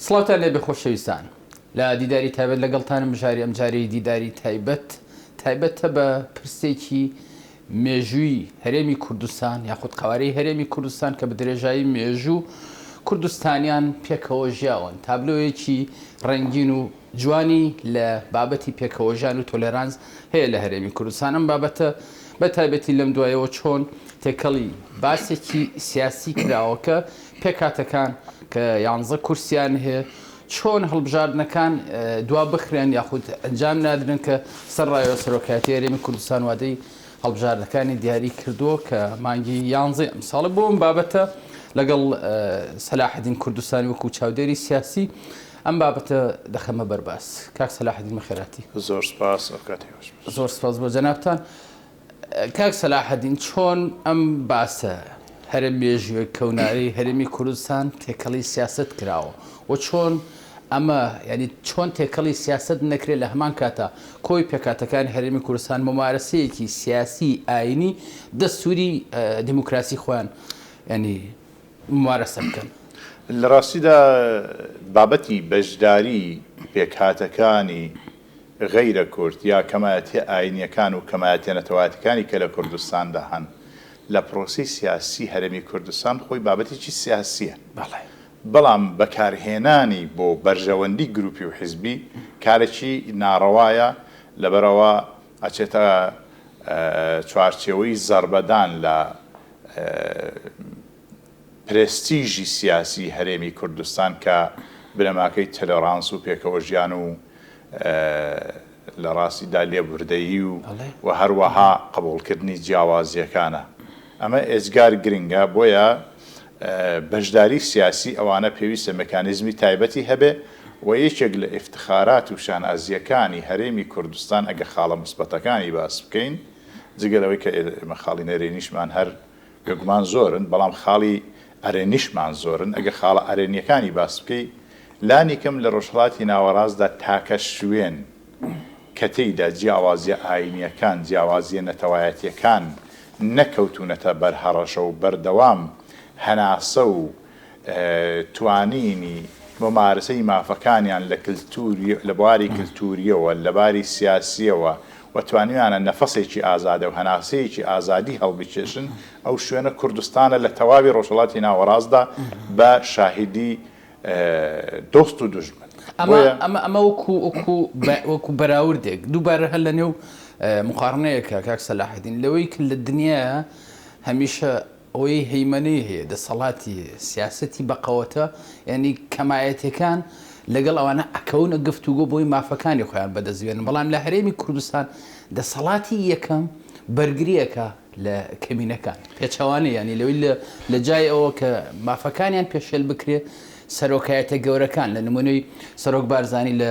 سڵاوتان لێبێ خۆشەویستان لە دیداری تایبەت لەگەڵتانم بژاری ئەمجارەی دیداری تایبەت تایبەتە بە پرسێکی مێژووی هەرێمی کوردستان یاخود قەوارەی هەرێمی کوردستان کە بەدرێژایی مێژوو کوردستانیان پێکەوە ژیاون تابلۆیەکی ڕەنگین و جوانی لە بابەتی پێکەوە ژیان و تۆلێرانس هەیە لە هەرێمی کوردستان ئەم بابەتە بە تایبەتی لەم دوایەوە چۆن تێکەڵی باسێکی سیاسی کراوە کە پێکهاتەکان کە یانزە کورسییان هەیە، چۆن هەڵبژاردنەکان دوابخرێن یاخود ئەنجام نادرێن کە سەرڕای سەرۆکایەتیی هەرێمی کوردستان وادەی هەڵبژاردنەکانی دیاری کردووە کە مانگی یانزەی ئەمساڵە، بۆ ئەم بابەتە لەگەڵ سەلاحەدین کوردستانی وەکوو چاودێری سیاسی ئەم بابەتە دەخەمە بەر باس. کاک سەلاحەدین بەخێرهاتی. زۆر سپاس، ئەوکاتی باشبێت. زۆر سپاس بۆ جەنابتان. کاک سەلاحەدین چۆن ئەم باسە هەرە مێژوویە کەونارەی هەرێمی کوردستان تێکەڵی سیاسەت کراوە و چۆن ئەمە یعنی چۆن تێکەڵی سیاسەت نەکرێت لە هەمان کاتە کۆی پێکاتەکانی هەرێمی کوردستان ممارەسەیەکی سیاسی ئاینی دەستوری دیموکراسی خۆیان ینی ممارەسە بکەن لە ڕاستیدا بابەتی بەشداری پێکهاتەکانی غەیرە کورد یا کەمایەتیە ئاینیەکان و کەمایەتیە نەتەوایەتیەکانی کە لە کوردستاندا هەن لە پرۆسەی سیاسی هەرێمی کوردستان خۆی بابەتێکی سیاسیە بەڵام بەکارهێنانی بۆ بەرژەوەندی گروپی و حزبی کارێکی ناڕەوایە لەبەرئەوە ئەچێتە چوارچێوەی زەڕبەدان لە پرێستیژی سیاسی هەرێمی کوردستان کە بنەماکەی تەلۆرانس و پێکەوەژیان و لە ڕاستیدا لێبوردەیی و و هەروەها قبوڵکردنی جیاوازییەکانە. ئەمە ئێجگار گرنگە، بۆیە بەشداری سیاسی ئەوانە پێویستە مکانیزمی تایبەتی هەبێ و یەکێک لە ئیفتخارات و شانازییەکانی هەرێمی کوردستان ئەگەر خاڵە موسبەتەکانی باس بکەین جگە لەوەی کە ئێمە خاڵی نەرێنیشمان هەر بێگومان زۆرن بەڵام خاڵی ئەرێنیشمان زۆرن، ئەگەر خاڵە ئەرێنییەکانی باس بکەی لانیکەم لە ڕۆژهەڵاتی ناوەڕاستدا تاکە شوێن کە تێیدا جیاوازییە ئاینییەکان، جیاوازییە نەتەوایەتییەکان نەکەوتوونەتە بەر هەڕەشە و بەردەوام هەناسە و توانینی مومارسەی مافەکانیان لە کلتوری لە بواری کلتوریەوە لە باری سیاسیەوە و توانیویانە نەفەسێکی ئازادە و هەناسەیەکی ئازادی هەڵبکێشن ئەو شوێنە کوردستانە لە تەواوی ڕۆژهەڵاتی ناوەڕاستدا بە شاهیدی دۆست و دوژمن بۆیە ئەمە ئەمە وەکو وەکو وەکو بەراوردێک دووبارە هەر لە نێو مقاڕنەیەکە کاک سەلاحەدین لەوەی کە لە دنیا هەمیشە ئەوەی هەیمەنەی هەیە، دەسەڵاتی هەیە، سیاسەتی بەقەوەتە، یانی کەمایەتیەکان لەگەڵ ئەوانە ئەکەونە گفتوگۆ بۆی مافەکانی خۆیان بەدەست بێنن، بەڵام لە هەرێمی کوردستان دەسەڵاتی یەکەم بەرگری ئەکا لە کەمینەکان، پێچەوانەی یانی لەوەی لە جای ئەوە کە مافەکانیان پێشێل بکرێ سەرۆکایەتە گەورەکان لە نمونەی سەرۆک بارزانی لە.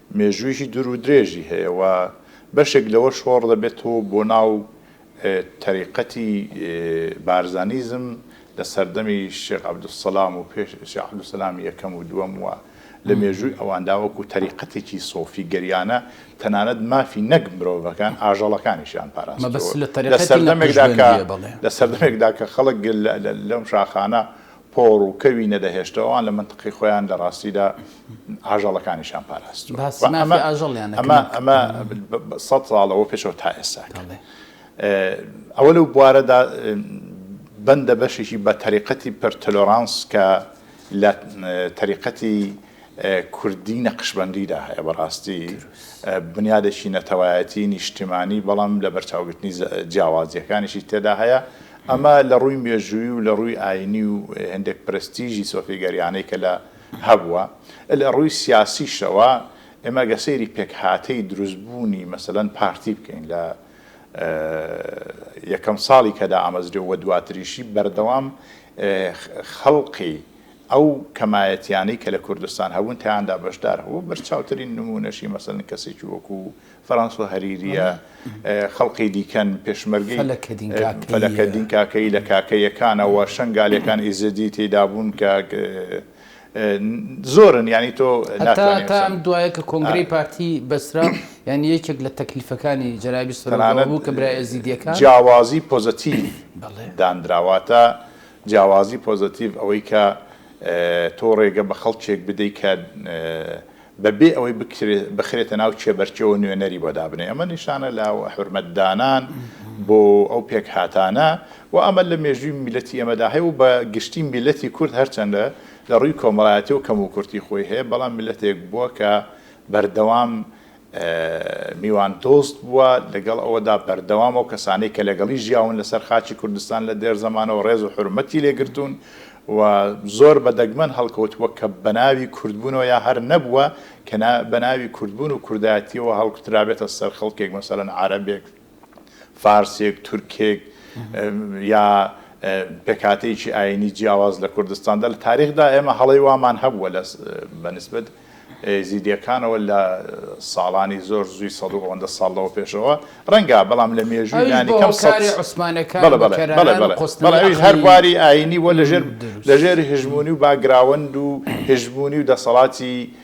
مێژوویەکی دوور و درێژی هەیە و بەشێک لەوە شۆڕ دەبێتەوە بۆ ناو تەریقەتی بارزانیزم لە سەردەمی شێخ عەبدولسەلام و پێش شێخ عەبدولسەلامی یەکەم و دووەم و لە مێژووی ئەواندا وەکوو تەریقەتێکی سۆفیگەریانە تەنانەت مافی نەک مرۆڤەکان ئاژەڵەکانیشیان پاراستووە لە سەردەمێکدا کە لە سەردەمێکدا کە خەڵک لەم شاخانە پۆڕ و کەوی نەدەهێشتەوە ئەوان لە مەنتقی خۆیان لە ڕاستیدا ئاژەڵەکانیشان پاراستوە باسی مافی ئەمە ئاژەڵیانە ئەمە کرد ئەمە بە سەد ساڵ لەوە پێشەوە تا ئێستا کرد بەڵێ ئه، ئەوە لەو بوارەدا ئه، بەندە بەشێکی بە تەریقەتی پرتلۆرانس کە لە تەریقەتی کوردی نەقشبەندیدا هەیە، بەڕاستی بنیادێکی نەتەوایەتی نیشتیمانی بەڵام لەبەرچاوگرتنی جیاوازییەکانیشی تێدا هەیە، ئەمە لەڕووی مێژووی و لەڕووی ئاینی و هێندێک پرەستیژی سۆفیگەریانەی کە لە هەبووە، لەڕووی سیاسیشەوە ئێمە گەر سەیری پێکهاتەی دروستبوونی مەسەلەن پارتی بکەین لە یەکەم ساڵی کە دامەزرێ و دواتریشی بەردەوام خەڵقی ئەو کەمایەتیانەی کە لە کوردستان هەبوون تیاندا بەشدار هەبوو، بەرچاوترین نموونەشی مەسەلەن کەسێکی وەکوو فەرەنسۆ هەریرییە، خەڵقی دیکەن، پێشمەرگەی فەلەکەدین کاکەیی لە کاکەییەکانەوە، شەنگالییەکان ئیزدی تێیدا بوون کە زۆرن یانی تۆ ناتوانی هەتا ئەم دوایە کە کۆنگرەی پارتی بەسترا یانی یەکێک لە تەکلیفەکانی جەنابی سەرۆک ئەوە بوو کە برایە ئێزیدییەکان تەنانەت جیاوازی پۆزەتیڤ دانرا واتە جیاوازی پۆزەتیڤ ئەوەی کە تۆ ڕێگە بە خەڵکێک بدەیت کە بە بێ ئەوەی بخرێتە ناو کێبەرکێوە نوێنەری بۆ دابنێ ئەمە نیشانە لە حورمەتدانان بۆ ئەو پێکهاتانە و ئەمە لە مێژووی میلەتی ئێمەدا هەیە و بە گشتی میلەتی کورد هەرچەندە لە ڕووی کۆمەڵایەتی و کەم و کورتی خۆی هەیە بەڵام میلەتێک بووە کە بەردەوام میواندۆست بووە، لەگەڵ ئەوەدا بەردەوام ئەو کەسانەی کە لەگەڵی ژیاون لەسەر خاکی کوردستان لە دێر زەمانەوە ڕێز و حورمەتی لێ گرتوون و زۆر بە دەگمەن هەڵکەوتووە کە بە ناوی کوردبوونەوە یا هەر نەبووە کە بە ناوی کوردبوون و کوردایەتییەوە هەڵکوترابێتە سەر خەڵکێک مەسەلەن عارەبێک فارسێک، تورکێک یا پێکهاتەیەکی ئایینی جیاواز لە کوردستاندا، لە تاریخدا ئێمە هەڵەی وامان هەبووە لە بە نیسبەت ئێزیدییەکانەوە لە ساڵانی زۆر زووی سەد و ئەوەندە ساڵ لەوە پێشەوە ڕەنگە، بەڵام لە مێژووی لانیکەم سەد ئەویش بۆ هۆکاری عوسمانەکان بەڵێ بەڵێ بەڵێ بەڵێ بەڵێ قۆستنەوەی بەڵێ ئەویش هەر عەقڵی بواری ئایینی بووە لە ژێر دروست لە ژێر هژموونی و باکگراوەند و هژموونی و دەسەڵاتی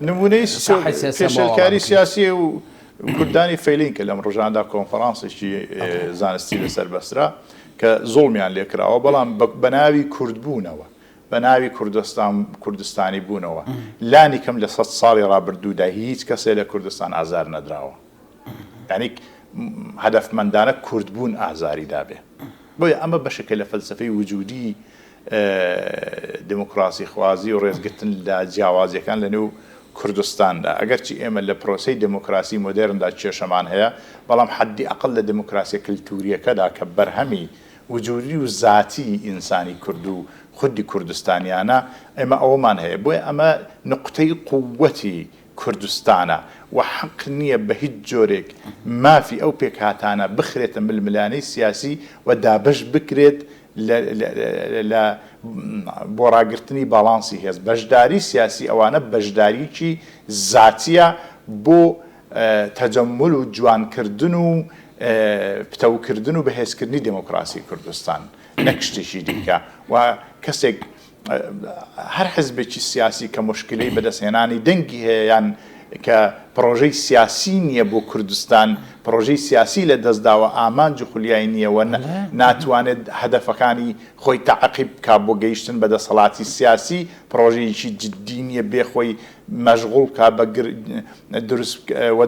نموونەی پێشێلکاری سیاسی و کوردانی فەیلین کە لەم ڕژاندا کۆنفرانسێکی زانستی لەسەر بەسرا کە زوڵمیان لێکراوە بەڵام بە ناوی کورد بوونەوە بە ناوی کوردستان کوردستانی بوونەوە لانی کەم لە سەد ساڵی ڕابردوودا هیچ کەسێ لە کوردستان ئازار نەدراوە. یانی هەدەفمەندانە کورد بوون ئازاری دابێ بۆیە ئەمە بەشێکە لە فەلسەفەی وجودی دموکراسی خوازی و ڕێزگرتن لە جیاوازیەکان لە نێو کوردستاندا ئەگەرچی ئێمە لە پرۆسی دموکراسی مۆدێرندا کێشەمان هەیە بەڵام حەدی ئەقل لە دموکراسیە کلتوریەکەدا کە بەرهەمی وجودی و زاتی ئینسانی کورد و خودی کوردستانیانە ئێمە ئەوەمان هەیە بۆیە ئەمە نقطەی قوتی کوردستانە و حەق نییە بە هیچ جۆرێک مافی ئەو پێکهاتانە بخرێتە ململانێی سیاسی و دابەش بکرێت لە بۆ ڕاگرتنی باڵانسی هێز. بەشداری سیاسی ئەوانە بەشداریی زاتییە بۆ تەجەمول و جوانکردن و پتەوکردن و بەهێزکردنی دێمۆکڕاسی کوردستان نەک شتێکی دیکە و کەسێک هەر حزبێکی سیاسی کە موشکیلەی بەدەستهێنانی دەنگی هەیە یان کە پڕۆژەی سیاسی نییە بۆ کوردستان، پڕۆژەی سیاسی لەدەستداوە، ئامانج و خولیای نییە و ناتوانێت هەدەفەکانی خۆی تەعقیب بکات بۆ گەیشتن بە دەسەڵاتی سیاسی، پڕۆژەیەکی جددی نییە بێ خۆی مەشغوڵ بکات بە دروست و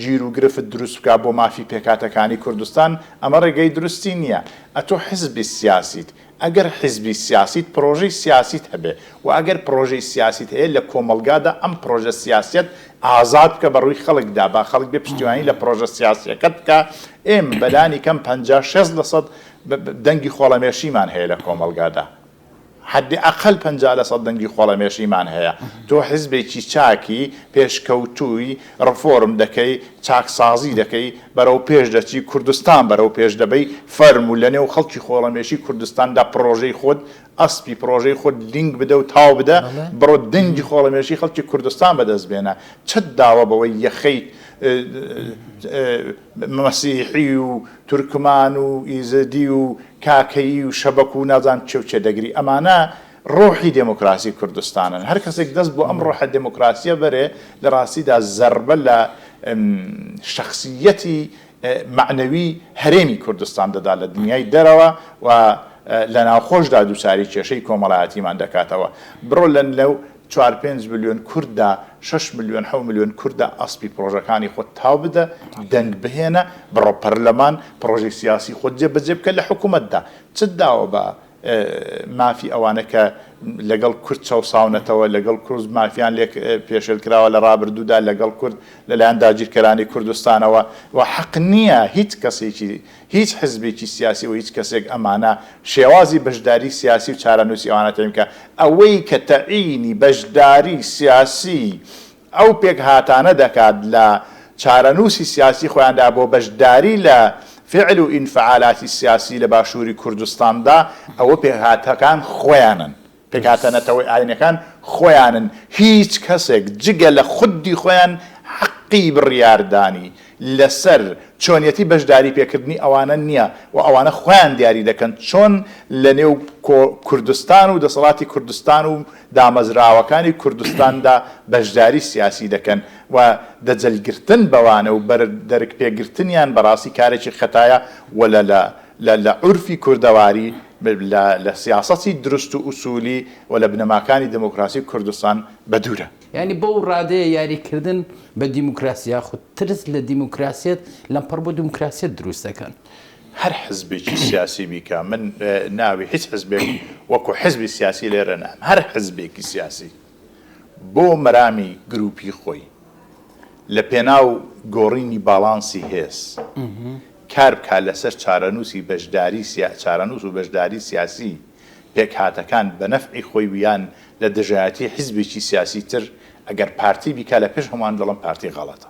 گیر و گرفت دروست بکات بۆ مافی پێکهاتەکانی کوردستان، ئەمە ڕێگەی دروستی نییە. ئەتۆ حزبی سیاسیت. ئەگەر حیزبی سیاسیت پرۆژەی سیاسیت هەبێ و ئەگەر پرۆژەی سیاسیت هەیە لە کۆمەڵگادا ئەم پرۆژە سیاسیەت ئازاد بکە بە ڕووی خەڵکدا با خەڵک بێ پشتیوانی لە پرۆژە سیاسیەکەت بکا ئێمە بە لانی کەم پەنجا شێست لە سەد دەنگی خۆڵەمێشیمان هەیە لە کۆمەڵگادا حەدی ئەقەل پەنجا لە سەد دەنگی خۆڵەمێشیمان هەیە تۆ حیزبێکی چاکی پێشکەوتووی ڕفۆرم دەکەی، چاکسازی دەکەی، بەرەو پێش دەچی، کوردستان بەرەو پێش دەبەی، فەرموو لە نێو خەڵکی خۆڵەمێشی کوردستاندا پڕۆژەی خۆت، ئەسپی پڕۆژەی خۆت لینک بدە و تاو بدە، بڕۆ دەنگی خۆڵەمێشی خەڵکی کوردستان بەدەست بێنە، چەت داوە بەوەی یەخەی مەسیحی و تورکمان و ئیزدی و کاکەیی و شەبەک و نازانم کێ و کێ دەگری، ئەمانە. ڕۆحی دێمۆکراسی کوردستانن، هەر کەسێک دەست بۆ ئەم ڕۆحە دێمۆکراسییە بەرێ، لە ڕاستیدا زەربە لە شەخسییەتی مەعنەوی هەرێمی کوردستان دەدا لە دنیای دەرەوە و لە ناوخۆشدا دووچاری کێشەی کۆمەڵایەتیمان دەکاتەوە. بڕۆ لە لەو چوار پێنج ملیۆن کورددا، شەش ملیۆن، حەوت ملیۆن کورددا ئەسپی پڕۆژەکانی خۆت تاو بدە، دەنگ بهێنە، بڕۆ پەرلەمان، پڕۆژەی سیاسی خۆت جێبەجێ بکە لە حکوومەتدا. چت داوە بە مافی ئەوانە کە لەگەڵ کورد چەوساونەتەوە، لەگەڵ کورد مافیان لێ پێشێلکراوە لە ڕابردوودا، لەگەڵ کورد لەلایەن داگیرکەرانی کوردستانەوە و حەق نییە هیچ کەسێکی، هیچ حزبێکی سیاسی و هیچ کەسێک ئەمانە شێوازی بەشداری سیاسی و چارەنووسی ئەوانە تەعین بکات. ئەوەی کە تەعینی بەشداری سیاسی ئەو پێکهاتانە دەکات لە چارەنووسی سیاسی خۆیاندا بۆ بەشداری لە فعل و ئینفعالاتی سیاسی لە باشووری کوردستاندا، ئەوە پێکهاتەکان خۆیانن، پێکهاتە نەتەوە ئاینەکان خۆیانن، هیچ کەسێک جگە لە خودی خۆیان حەقی بڕیاردانی لەسەر چۆنیەتی بەشداری پێکردنی ئەوانە نییە و ئەوانە خۆیان دیاری دەکەن چۆن لەنێو کوردستان و دەسەڵاتی کوردستان و دامەزراوەکانی کوردستاندا بەشداری سیاسی دەکەن و دەجەلگرتن بەوانە و بەر دەرک پێگرتنیان بەڕاستی کارێکی خەتایە و لە لە لە لە عورفی کوردەواری لە لە سیاسەتی دروست و ئوسولی و لە بنەماکانی دموکراسی کوردستان بەدوورە. یانی بەو ڕادەیە یاری کردن بە دیموکراسی یاخود ترس لە دیموکراسیەت لەمپەڕ بۆ دیموکراسیەت دروست دەکەن. هەر حزبێکی سیاسی بیکە من ناوی هیچ حزبێک وەکو حزبی سیاسی لێرە نام هەر حزبێکی سیاسی بۆ مەرامی گروپی خۆی لە پێناو گۆڕینی باڵانسی هێز کار بکە لەسەر چارەنووسی بەشداری چارەنووس و بەشداری سیاسی پێکهاتەکان بە نەفعی خۆی ویان لە دژایەتی حزبێکی سیاسی تر ئەگەر پارتی بیکە لە پێش هەمان دڵم پارتی غەڵەتە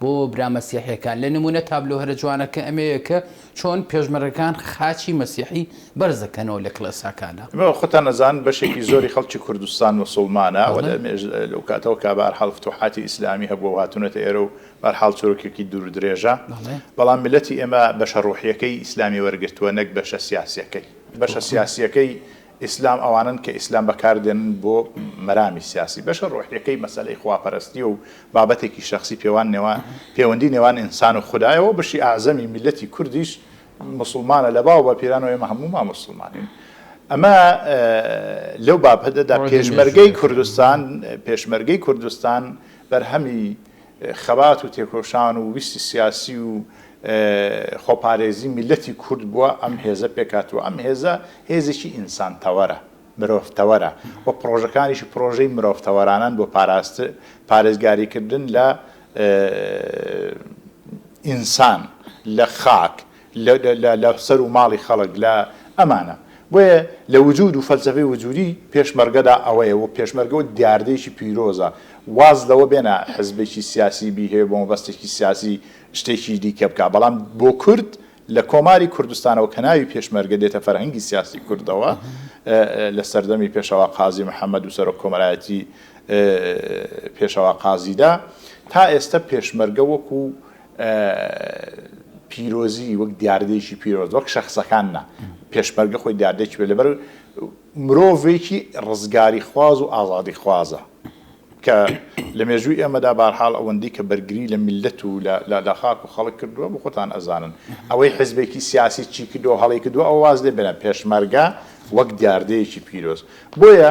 بۆ برا مەسیحیەکان لە نمونە تابلۆ هەرە جوانەکە ئەمەیە کە چۆن پێشمەرگەکان خاچی مەسیحی بەرز دەکەنەوە لە کلێساکانا. ئەمە خۆتان ئەزان بەشێکی زۆری خەڵکی کوردستان موسوڵمانە و لەمێژ لەو کاتەوە کە بە هەر حاڵ فتوحاتی ئیسلامی هەبووە و هاتونەتە ئێرە و بە هەر حاڵ چروکێکی دوور و درێژە بەڵام میللەتی ئێمە بەشە ڕوحیەکەی ئیسلامی وەرگرتووە نەک بەشە سیاسیەکەی بەشە سیاسیەکەی ئیسلام ئەوانەن کە ئیسلام بەکاردێنن بۆ مەرامی سیاسی، بەشە ڕۆحیەکەی مەسەلەی خواپەرەستیە و بابەتێکی شەخسی پێوان نێوان پێوەندی نێوان ئینسان و خودایە و بەشی ئەعزەمی میللەتی کوردیش موسڵمانە لە باو باپیران و ئێمە هەموومان موسڵمانین ئەمە لەو بابەتەدا پێشمەرگەی کوردستان پێشمەرگەی کوردستان بەرهەمی خەبات و تێکۆشان و ویستی سیاسی و خۆپارێزی میللەتی کورد بووە ئەم هێزە پێکهاتووە، ئەم هێزە هێزێکی ئینسانتەوەرە، مرۆڤتەوەرە و پڕۆژەکانیشی پڕۆژەی مرۆڤتەوەرانەن بۆ پارێزگاریکردن لە ئینسان، لە خاک، لە لە سەر و ماڵی خەڵک لە ئەمانە بۆیە لە وجود و فەلسەفەی وجودی پێشمەرگەدا ئەوەیە و پێشمەرگە و دیاردەیەکی پیرۆزە واز لەوە بێنە حزبێکی سیاسی بی هەیە بۆ مەبەستێکی سیاسی شتێکی دیکە بکا بەڵام بۆ کورد لە کۆماری کوردستانەوە کە ناوی پێشمەرگە دێتە فەرهەنگی سیاسی کوردەوە لە سەردەمی پێشەوا قازی محەممەد و سەرۆک کۆمەرایەتی پێشەوا قازیدا تا ئێستا پێشمەرگە وەکو پیرۆزی وەک دیاردەیەکی پیرۆز وەک شەخسەکان نا، پێشمەرگە خۆی دیاردەیەکی پێ لەبەر مرۆڤێکی ڕزگاریخواز و ئازادیخوازە کە لە مێژووی ئێمەدا بارحاڵ ئەوەندی کە بەرگری لە میللەت و لە خاک و خەڵک کردووە بۆ خۆتان ئەزانن ئەوەی حزبێکی سیاسی چی کردو هەڵەی کردو ئەو واز لێ بێنە پێشمەرگە وەک دیاردەیەکی پیرۆز بۆیە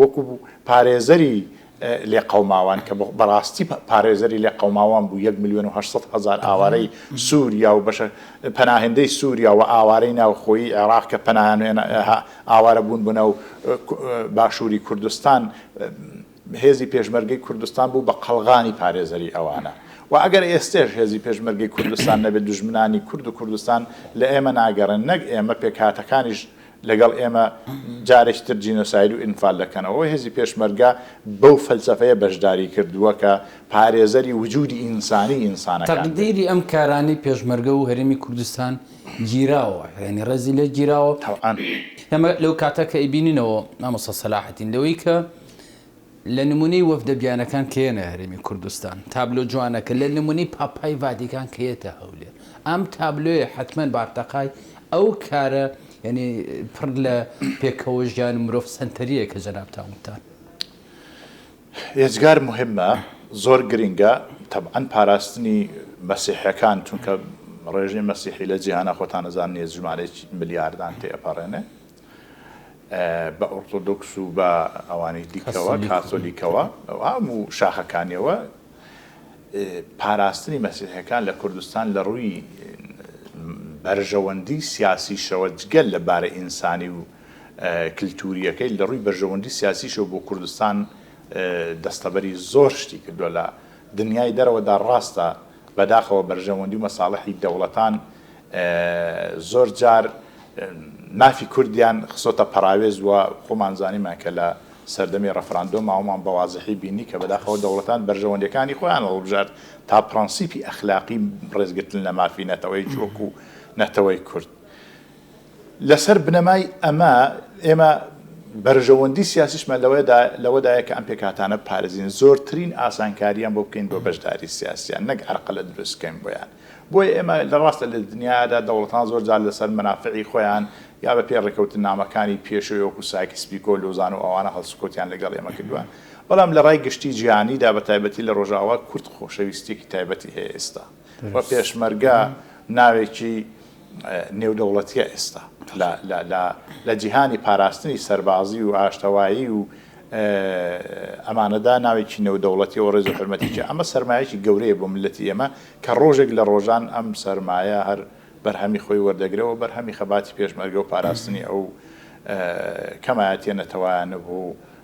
وەکو پارێزەری لێقەوماوان کە بەڕاستی پارێزەری لێقەوماوان بوو یەک ملیۆن و هەشت سەد هەزار ئاوارەی سووریا و بەشە پەناهندەی سووریا و ئاوارەی ناوخۆیی عێراق کە پەناهن ئاوارە بوون بوونە و باشووری کوردستان هێزی پێشمەرگەی کوردستان بوو بە قەڵغانی پارێزەری ئەوانە و ئەگەر ئێستێش هێزی پێشمەرگەی کوردستان نەبێت دژمنانی کورد و کوردستان لە ئێمە ناگەڕێن نەک ئێمە پێکهاتەکانیش لەگەڵ ئێمە جارێکی تر جینۆساید و ئینفال دەکەنەوە. هێزی پێشمەرگە بەو فەلسەفەیە بەشداری کردووە کە پارێزەری وجوودی ئینسانی ئینسانەکان بێت. تەقدیری ئەم کارانەی پێشمەرگە و هەرێمی کوردستان گیراوە، یانی ڕێزی لێ گیراوە. تەوعەن. ئێمە لەو کاتە کە ئەیبینینەوە مامۆستا سەلاحەدین لەوەی کە لە نمونەی وەفدە بیانەکان کە یەنە هەرێمی کوردستان تابلۆ جوانەکە لە نمونەی پاپای ڤاتیکان کە یەتە هەولێر ئەم تابلۆیە حەتمەن بارتەقای ئەو کارە یەنی پڕ لە پێکەوە ژیان مرۆڤ سەنتەریە کە جەنابتان وتان. ئێجگار موهیمە زۆر گرینگە تەبعەن پاراستنی مەسیحەکان چونکە ڕێژەی مەسیحی لە جیهانا خۆتان ئەزانن یە ژمارەیەکی ملیاردان تێ ئەپەڕێنێ بە ئۆرتۆدۆکس و بە ئەوانەی دیکەوە کاسۆلیکەوە هەموو شاخەکانیەوە پاراستنی مەسیحەکان لە کوردستان لە ڕووی بەرژەوەندی سیاسی شەوە جگەل لە بارە ئینسانی و کللتوریەکەی لە ڕووی بەرژەوەندی سیاسیشەوە بۆ کوردستان دەستەبەری زۆر شتی کردووە لە دنیای دەرەوەدا ڕاستە بەداخەوە بەرژەوەندی و مەساڵحی دەوڵەتان زۆر جار مافی کوردیان خستۆتە پەڕاوێز و خۆمان زانیمان کە لە سەردەمی ڕەفراندۆ ماوەمان بە وازحی بینی کە بەداخەوە دەوڵەتان بەرژەوەندەکانی خۆیان هەڵبژارد تا پرەنسیپی ئەخلاقی ڕێزگرتن لە مافی نەتەوەیەکی وەکو نەتەوەی کورد. لەسەر بنەمای ئەمە ئێمە بەرژەوەندی سیاسیشمان لەوەدایە کە ئەم پێکهاتانە بپارێزین، زۆرترین ئاسانکارییان بۆ بکەین بۆ بەشداری سیاسییان، نەک هەرقەلە دروست بکەین بۆیان. بۆیە ئێمە لە ڕاستە لە دنیادا دەوڵەتان زۆر جار لەسەر مەنافعی خۆیان یا بە پێی ڕێککەوتننامەکانی پێشووی وەکوو سایکس پیکۆ، لۆزان و ئەوانە هەڵسوکەوتیان لەگەڵ ئێمە کردووە، بەڵام لە ڕای گشتی جیهانیدا بە تایبەتی لە ڕۆژاوا کورد خۆشەویستییەکی تایبەتی هەیە ئێستا. و پێشمەرگە ناوێکی نێودەوڵەتیە ئێستا لە جیهانی پاراستنی سەربازی و ئاشتەوایی و ئەمانەدا ناوێکی نێودەوڵەتی و ڕێز حرمەتیی ئەمە سەرمایەکی گەورەیە بۆ ملەتی ئێمە کە ڕۆژێک لە ڕۆژان ئەم سەرمایە هەر بەرهەمی خۆی وەردەگرەوە بەرهەمی خەباتی پێشمەرگە و پاراستنی ئەو کەمایەتە نەتەوایانە بوو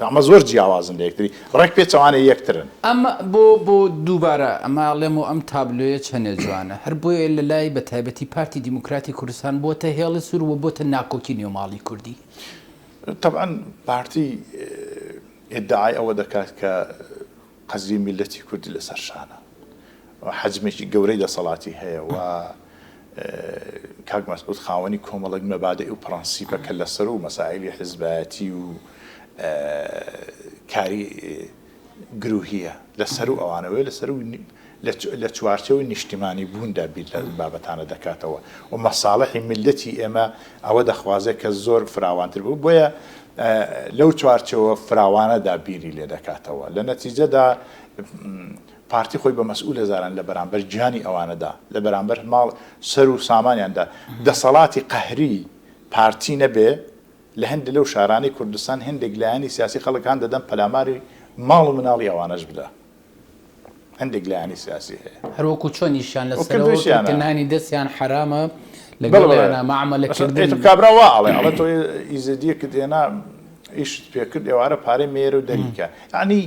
ئەمە زۆر جیاوازن لە یەکتری ڕێک پێچەوانەی یەکترن. ئەمە بۆ بۆ دووبارە ئەمە ئەڵێم و ئەم تابلۆیە چەنێ جوانە هەر بۆیە لە لای بە تایبەتی پارتی دیموکراتی کوردستان بۆتە هێڵی سوور و بۆتە ناکۆکی نێو ماڵی کوردی. تەبعەن پارتی ئیدعای ئەوە دەکات کە قەدری میللەتی کوردی لەسەر شانە و حەجمێکی گەورەی دەسەڵاتی هەیە و کاک مەسعود خاوەنی کۆمەڵێک مەبادئ و پڕەنسیپە کە لەسەر و مەسائیلی حزبایەتی و کاری گرووهیە لەسەر و ئەوانەوەی لەسەر و لە چوارچێوەی نیشتیمانی بووندا بیر لە ئەم بابەتانە دەکاتەوە و مەساڵحی میللەتی ئێمە ئەوە دەخوازێت کە زۆر فراوانتر بوو بۆیە لەو چوارچێوە فراوانەدا بیری لێ دەکاتەوە لە نەتیجەدا پارتی خۆی بە مەسئول هزاران لە بەرامبەر گیانی ئەوانەدا لە بەرامبەر ماڵ سەر و سامانیاندا دەسەڵاتی قەهری پارتی نەبێ لە هەندێک لەو شارانەی کوردستان هەندێک لایەنی سیاسی خەڵک هان دەدەن پەلاماری ماڵ و مناڵی ئەوانەش بدە. هەندێک لایەنی سیاسی هەیە. هەر وەکو چۆنیشیان لە سەرەوە کردوویانە. نانی دەستیان حەرامە لەگەڵیانا مەعامەلە کردن. بەڵێ بەڵێ. کابرا وا ئەڵێ. ئەڵێ تۆ ئیزەدییەکت هێنا ئیشت پێ کرد ئێوارە پارەی مەیەرە و دەری کە. یەعنی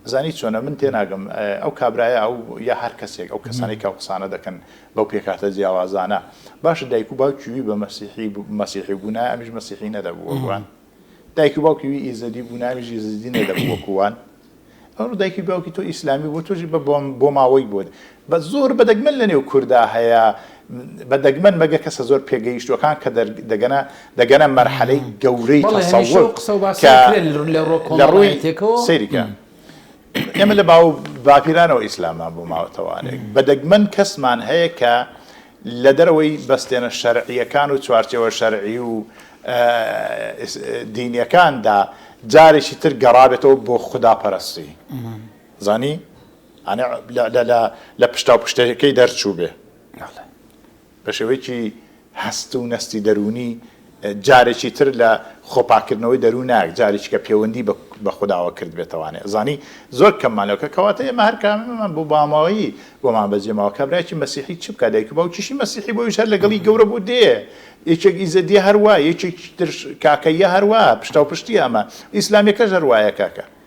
ئەزانی چۆنە من تێ ناگەم ئەو کابرایە ئەو یا هەر کەسێک ئەو کەسانەی کە ئەو قسانە دەکەن بەو پێکهاتە جیاوازانە باشە دایک و باوکی وی بە مەسیحی مەسیحی بوونایە ئەمیش مەسیحی نەدەبوو وەک وان؟ دایک و باوکی وی ئیزەدی بوونایە ئەمیش ئیزەدی نەدەبوو وەکو وان؟ ئەوە دایکی و باوکی تۆ ئیسلامی بوو تۆژی بە بۆماوەی بووت بە زۆر بەدەگمەن لە نێو کووردا هەیە بە دەگمەن مەگە کەسە زۆر پێگەیشتوەکان کە دەگەنە دەگەنە مەرحەلەی گەورەی لە ڕووی سریکە ئێمە لە باو باپیرانەوە ئیسلامان بۆ ماوەتەوانێک بە دەگمەن کەسمان هەیە کە لە دەرەوەی بەستێنە شەرعییەکان و چوارچێوە شەرعی و دینییەکاندا جارێکی تر گەڕابێتەوە بۆ خوداپەرەستی زانی لە پشتا و پشتەکەی دەرچوو بێ بە شێوەیەکی هەست و نەستی دەروونی جارێکی تر لە خۆپاککردنەوەی دەروون نایەک جارێکیکە پێوەندی بە خوداوە کردبێتەوانێ زانی زۆر کەممان لەوکە کەواتە ئێمە هەر کامەمان بۆ باماوەیی بۆمان بەجێ ماوە کابراکی مەسیحی چ بکە دایک و باوکیشی مەسیحی بۆیش هەر لەگەڵی گەورە بوو دێ یەکێک ئیزەدیە هەروە یەکێک تر کاکەیە هەروە پشتاوپشتی ئەمە ئیسلامیەکەش هەروایە کاکە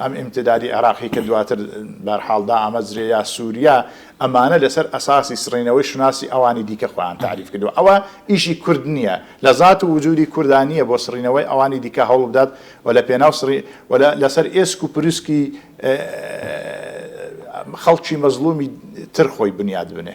ئەم ئیمتدادی عێراقی کە دواتر بەرحاڵ دائەمەزرێ یا سوریا ئەمانە لەسەر ئەساسی سڕینەوەی شوناسی ئەوانی دیکە خۆیان تاریف کردوە ئەوە ئیشی کورد نیە لە زات و وجودی کوردا نیە بۆ سڕینەوەی ئەوانی دیکە هەوڵبدات و لە پێناو سڕی و لەسەر ئێسک و پروسکی خەڵکی مەزڵومی تر خۆی بنیات بنێ.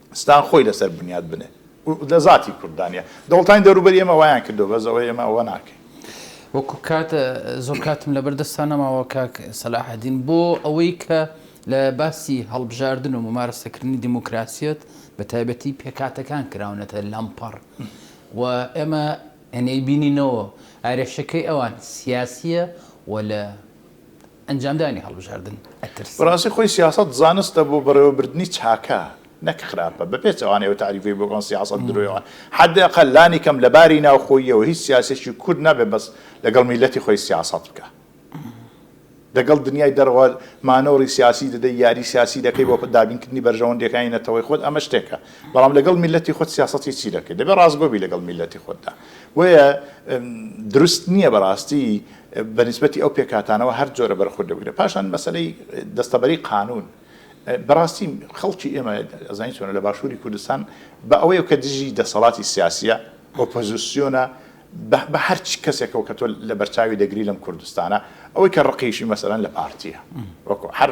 ستان خۆی لەسەر بنیات بنێ و لە زاتی کورددا نیە. دەوڵەتانی دەوروبەری ئێمە وایان کردوە بەس ئەوە ئێمە ئەوە ناکەین. وەکو کات زۆر کاتم لەبەر دەستا نەماوە کاک سەلاحەدین بۆ ئەوەی کە لە باسی هەڵبژاردن و ممارەسەکردنی دیموکراسیەت بە تایبەتی پێکهاتەکان کراونەتە لەمپەڕ و ئێمە ئەنەیبینینەوە ئارێشەکەی ئەوان سیاسیە و لە ئەنجامدانی هەڵبژاردن ئەترسن. بەڕاستی خۆی سیاسەت زانستە بۆ بەڕێوەبردنی چاکە نەک خراپە، بەپێچەوانەی ئەو تەعریفەی بۆکەن سیاسەت درۆیە، حد اقل لانی کەم لە باری ناوخۆییەوە هیچ سیاسیەکی کورد نابێت بەس لەگەڵ میلەتی خۆی سیاسەت بکا دەگەڵ دنیای دەرەوە مانۆڕی سیاسی دەدەی یاری سیاسی دەکەی بۆ دابینکردنی بەرژەوەندیەکانی نەتەوەی خۆت ئەمە شتێکە بەڵام لەگەڵ میلەتی خۆت سیاسەتی چی دەکەی دەبێت ڕاستگۆبی لەگەڵ میلەتی خۆتدا بۆیە دروست نییە بەڕاستی بە نیسبەتی ئەو پێکهاتانەوە هەر جۆرە بەرخوردە بگرە پاشان مەسەلەی دەستەبەری قانون بەڕاستی خەڵکی ئێمە ئەزانی چۆنە لە باشووری کوردستان بە ئەوەیە کە دژی دەسەڵاتی سیاسیە ئۆپۆزیسیۆنە بە هەرچ کەسێکەوە کە تۆ لە بەرچاوی دەگری لەم کوردستانە ئەوەی کە ڕقیشی مەسەرەن لە پارتیە وەکو هەر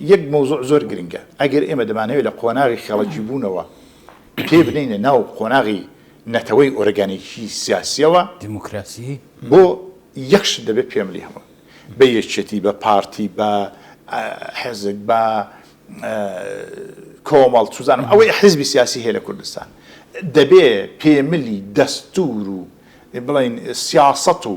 یەک مەوزوع زۆر گرنگە، ئەگەر ئێمە دەمانەوێت لە قۆناغی خێڵەکیبوونەوە پێ بنێینە ناو قۆناغی نەتەوەی ئۆرگانیکی سیاسییەوە، بۆ یەک شت دەبێت پێملی هەمووی بە یەکێتی، بە پارتی، بە حیزک، بە کۆمەڵ، چوزانم ئەوەی حیزبی سیاسی هەیە لە کوردستان، دەبێت پێملی دەستوور و بڵێن سیاسەت و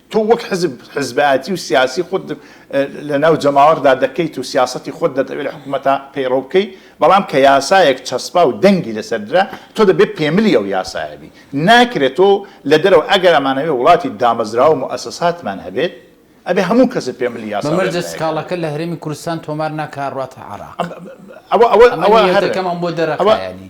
تۆ وەک حزب حزبایەتی و سیاسی خۆت لەناو جەماوەردا دەکەیت و سیاسەتی خۆت دەتەوێت لە حکومەتا پەیڕەو بکەیت، بەڵام کە یاسایەک چەسپا و دەنگی لەسەر درا، تۆ دەبێت پێملی ئەو یاسایە بی. ناکرێت تۆ لە دەرەوە، ئەگەر ئەمانەوێت وڵاتی دامەزراوە و موئەسەساتمان هەبێت، ئەبێت هەموو کەسێک پێملی یاسا بەمەش دەست سکاڵاکە لە هەرێمی کوردستان تۆمار ناکا ڕاتە عێراق. ئەوە ئەوە ئەوە هەر ئەمە نیەتەکەمان بۆ دەرەقە یانی.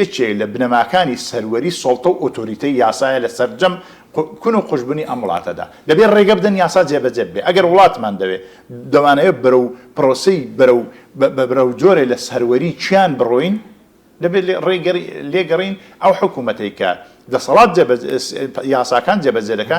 یەکێ لە بنەماکانی سەروەری سوڵتە و ئۆتۆریتەی یاسایە لە سەرجەم کون و قوژبنی ئەم وڵاتەدا. دەبێ ڕێگە بدەن یاسا جێبەجێ ببێ. ئەگەر وڵاتمان دەوێ، دەمانەوێ بەرەو پرۆسەی بەرەو بەرەو جۆرێ لە سەروەری کیان بڕۆین، دەبێ ڕێگە لێگەڕێین ئەو حکوومەتەی کە دەسەڵات جێبەجێ یاساکان جێبەجێ دەکا،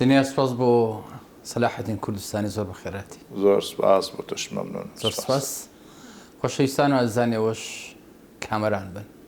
دنیا سوپاس بۆ سەلاح الدین کوردستانی زۆر بەخێرهاتی. زۆر سوپاس بۆ تۆش مەمنون. زۆر سوپاس خۆشەویستان و ئازیزانی ئەوەش کامەران بن.